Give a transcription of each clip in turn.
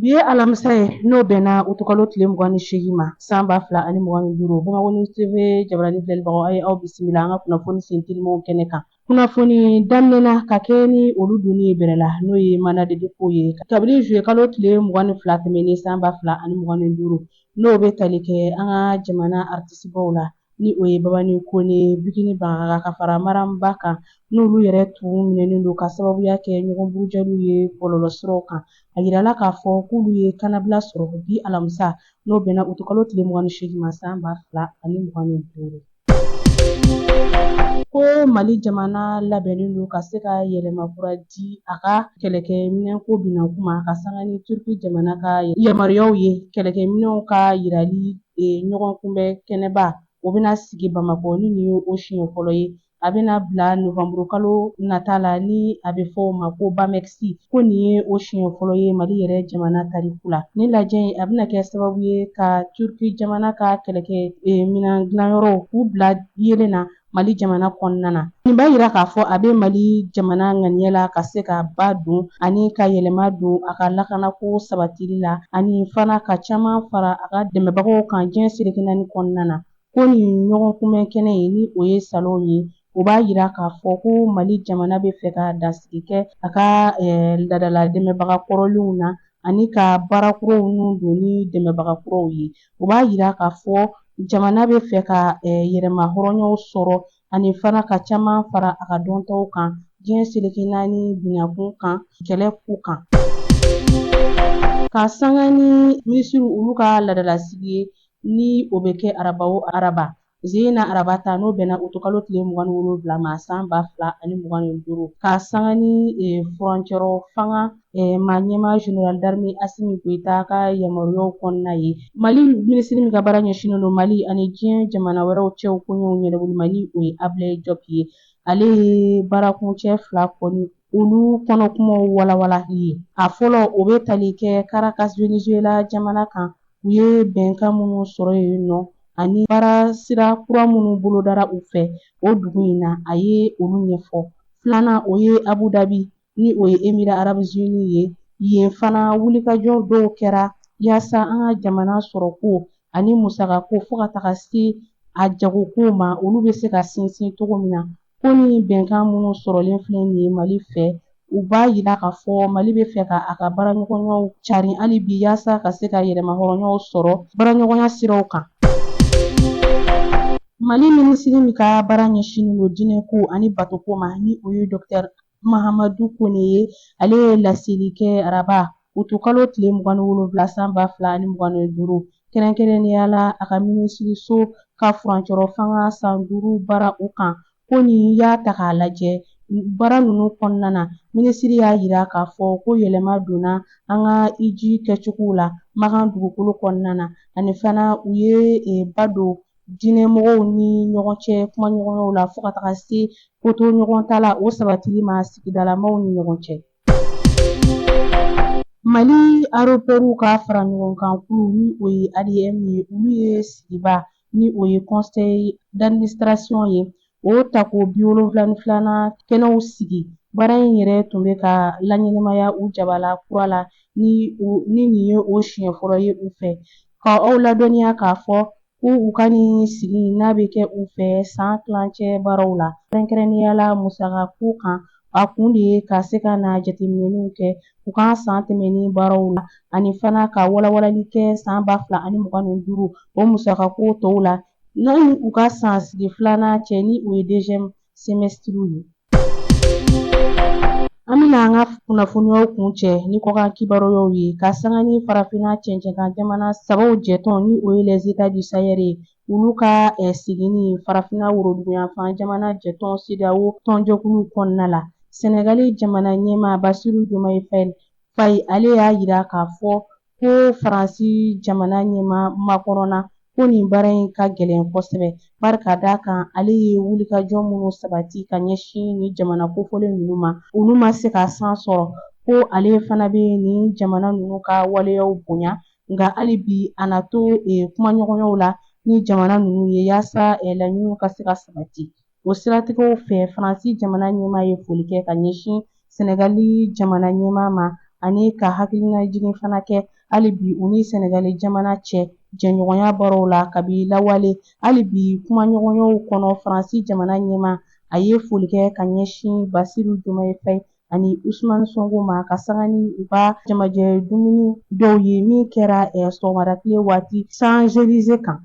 Bi ye alamisa ye n'o bɛnna utukalo tile mugan ni seegin ma san ba fila ani mugan ni duuru bamakɔ news TV jabaranin filɛlibagaw a ye aw bisimila an ka kunnafoni sen telimanw kɛnɛ kan kunnafoni daminɛna ka kɛ ni olu donni ye bɛrɛ la n'o ye mandat de dépôt ye kabini zuyekalo tile mugan ni fila tɛmɛnen san ba fila ani mugan ni duuru n'o bɛ tali kɛ an ka jamana artisibaw la ni o ye Babani Kone Biguini Baghaga ka fara Mariam Ba kan n'olu yɛrɛ tun minɛnen don ka sababuya kɛ ɲɔgɔn burujaliw ye bɔlɔlɔsiraw kan a yirala k'a fɔ k'olu ye kannabila sɔrɔ bi alamisa n'o bɛnna utukalo tile mugan ni seegin ma san ba fila ani mugan ni duuru ko mali jamana labɛnnen don ka se ka yɛlɛma kura di a ka kɛlɛkɛminɛnko binankun ma ka sanga ni turki jamana ka yamaruyaw ye kɛlɛkɛminɛnw ka yirali ɲɔgɔn kunbɛn kɛnɛba o bɛna sigi bamakɔ ni nin ye o siɲɛ fɔlɔ ye a bɛna bila novanburu kalo nata la ni a bɛ fɔ o ma ko BAMEX ko nin ye o siɲɛ fɔlɔ ye mali yɛrɛ jamana tariku la ni lajɛ in a bɛna kɛ sababu ye ka turki jamana ka kɛlɛkɛminan dilanyɔrɔw k'u bila yeelen na Mali jamana kɔnɔna na nin b'a yira k'a fɔ a bɛ Mali jamana ŋaniya la ka se ka ba don ani ka yɛlɛma don a ka lakanako sabatili la ani fana ka caman fara a ka dɛmɛbagaw kan diɲɛ seleke naani kɔnɔna na ko nin ɲɔgɔn kunbɛn kɛnɛ ye ni o ye salon ye o b'a yira k'a fɔ ko Mali jamana bɛ fɛ ka dasigi kɛ a ka eh, ladala dɛmɛbaga kɔrɔlenw na ani ka baara kuraw nun don ni dɛmɛbaga kuraw ye o b'a yira k'a fɔ jamana bɛ fɛ ka yɛrɛmahɔrɔnyaw sɔrɔ ani fana ka caman fara a ka dɔntaw kan diɲɛ seleke naani binankun kan kɛlɛ ko kan ka sanga ni minisiriw olu ka ladalasigi ye ni o bɛ kɛ araba o araba Sen na araba ta n'o bɛnna utukalo tile mugan wolonwula ma san ba fila ani mugan ni duuru ka sanga ni e, furancɛrɔ fanga Eh, ma ɲɛmaa général d'armée Assimi Goïta ka yamaruyaw kɔnɔna ye Mali minisiri min ka baara ɲɛsinnen don Mali ani diɲɛ jamana wɛrɛw cɛw koɲɛw ɲɛnabɔli ma ni o ye Ablaye Diop ye ale ye baarakuncɛ fila kɔni olu kɔnɔkumaw walawalali ye a fɔlɔ o bɛ tali kɛ Caracas Venezuela jamana kan u ye bɛnkan minnu sɔrɔ yen nɔ ani baara sira kura minnu bolodara u fɛ o dugu in na a ye olu ɲɛfɔ filanan o ye Abu Dhabi ni o ye Émirats Arabes Unis ye yen fana wulikajɔ dɔw kɛra yaasa an ka jamana sɔrɔko ani musakako fo ka taga se a jagoko ma olu bɛ se ka sinsin cogo min na ko ni bɛnkan minnu sɔrɔlen filɛ nin ye mali fɛ u b'a yira k'a fɔ mali bɛ fɛ ka a ka baaraɲɔgɔnyaw carin hali bi yaasa ka se ka yɛrɛmahɔrɔnyaw sɔrɔ baaraɲɔgɔnya siraw kan mali minisiri min ka baara ɲɛsinnen don diinɛko ani batoko ma ni o ye dɔkitɛri mahamadu kone ye ale ye laseli kɛ araba utukalo tile mugan ni wolonwula san ba fila ni mugan ni duuru kɛrɛnkɛrɛnnenya la a ka minisiriso ka furancɛrɔ fanga san duuru baara o kan ko n'i y'a ta k'a lajɛ baara ninnu kɔnɔna na minisiri y'a yira k'a fɔ ko yɛlɛma donna an ka iji kɛcogow la makan dugukolo kɔnɔna na ani fana u ye e, ba don diinɛmɔgɔw ni ɲɔgɔn cɛ kumaɲɔgɔnyaw la fo ka taga se kotoɲɔgɔntala o sabatili ma sigidalamaw ni ɲɔgɔn cɛ mali aéroports ka faraɲɔgɔnkan kulu ni o ye adm ye olu ye sigiba ni o ye conseil d'administration ye O tako bi wolonwula ni filanan kɛnɛw sigi baara in yɛrɛ tun bɛ ka laɲɛnamaya u jabala kura la ni nin ye o siɲɛ fɔlɔ ye u fɛ ka aw ladɔnniya k'a fɔ ko u ka nin sigi n'a bɛ kɛ u fɛ san tilancɛ baaraw la kɛrɛnkɛrɛnnenya la musakako kan a kun de ye ka se ka na jateminɛw kɛ u ka san tɛmɛnen baaraw la ani fana ka walawalali kɛ san ba fila ani mugan ni duuru o musakako tɔw la Ni u ka san sigi filanan cɛ ni o ye deuxième semestre ye an bɛna an ka kunnafoniyaw kuncɛ ni kɔkan kibaruyaw ye ka sanga ni farafinna cɛncɛnkan jamana sabaw jɛtɔn ni o ye les états du Sahel ye olu ka eh, seginni farafinna woroduguyanfan jamana jɛtɔn CEDEAO tɔnjɛkulu kɔnɔna la Senegali jamana ɲɛmaa Basiru Diomaye Faye ale y'a yira k'a fɔ ko Faransi jamana ɲɛmaa Macron na ko nin baara in ka gɛlɛn kosɛbɛ bari ka d'a kan ale ye wulikajɔ minnu sabati ka ɲɛsin nin jamana kofɔlen ninnu ma olu ma se ka san sɔrɔ ko ale fana bɛ nin jamana ninnu ka waleyaw bonya nka hali bi a na to e, kumaɲɔgɔnyaw la ni jamana ninnu ye yaasa e, laɲiniw ka se ka sabati O siratigɛw fɛ Faransi jamana ɲɛmaa ye foli kɛ ka ɲɛsin Sɛnɛgali jamana ɲɛmaa ma ani ka hakilinajigin fana kɛ hali bi u ni Sɛnɛgali jamana cɛ jɛɲɔgɔnya baaraw la kabi lawale. Hali bi kumaɲɔgɔnyaw kɔnɔ Faransi jamana ɲɛmaa a ye foli kɛ ka ɲɛsin Basiru Jomaye Faye ani usumani sɔnko ma ka sanga ni u ka jamajɛ dumuni dɔw ye min kɛra sɔgɔmada tile waati champs-élysées kan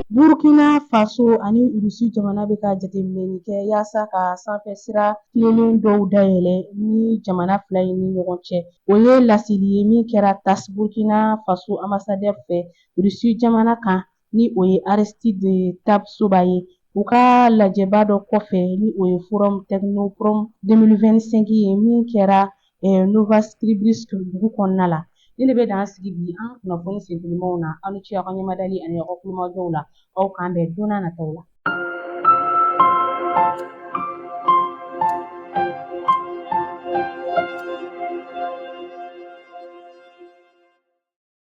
burkina faso ani irisi jamana bɛ ka jateminɛni kɛ yaasa ka sanfɛsira tilennen dɔw dayɛlɛ nin jamana fila in ni ɲɔgɔn cɛ o ye laseli ye min kɛra tass burkina faso ambassadeur fɛ irisi jamana kan ni o ye Aristide Tapsoba ye u ka lajɛba dɔ kɔfɛ ni o ye forum Technoprom 2025 ye min kɛra eh, Novosibirsk dugu kɔnɔna la nin de bɛ dan sigi bi an ka kunnafoni sentelimaw na aw ni ce aw ka ɲɛmadali ani aw ka kulomajɔw la aw k'an bɛn don n'a nataw la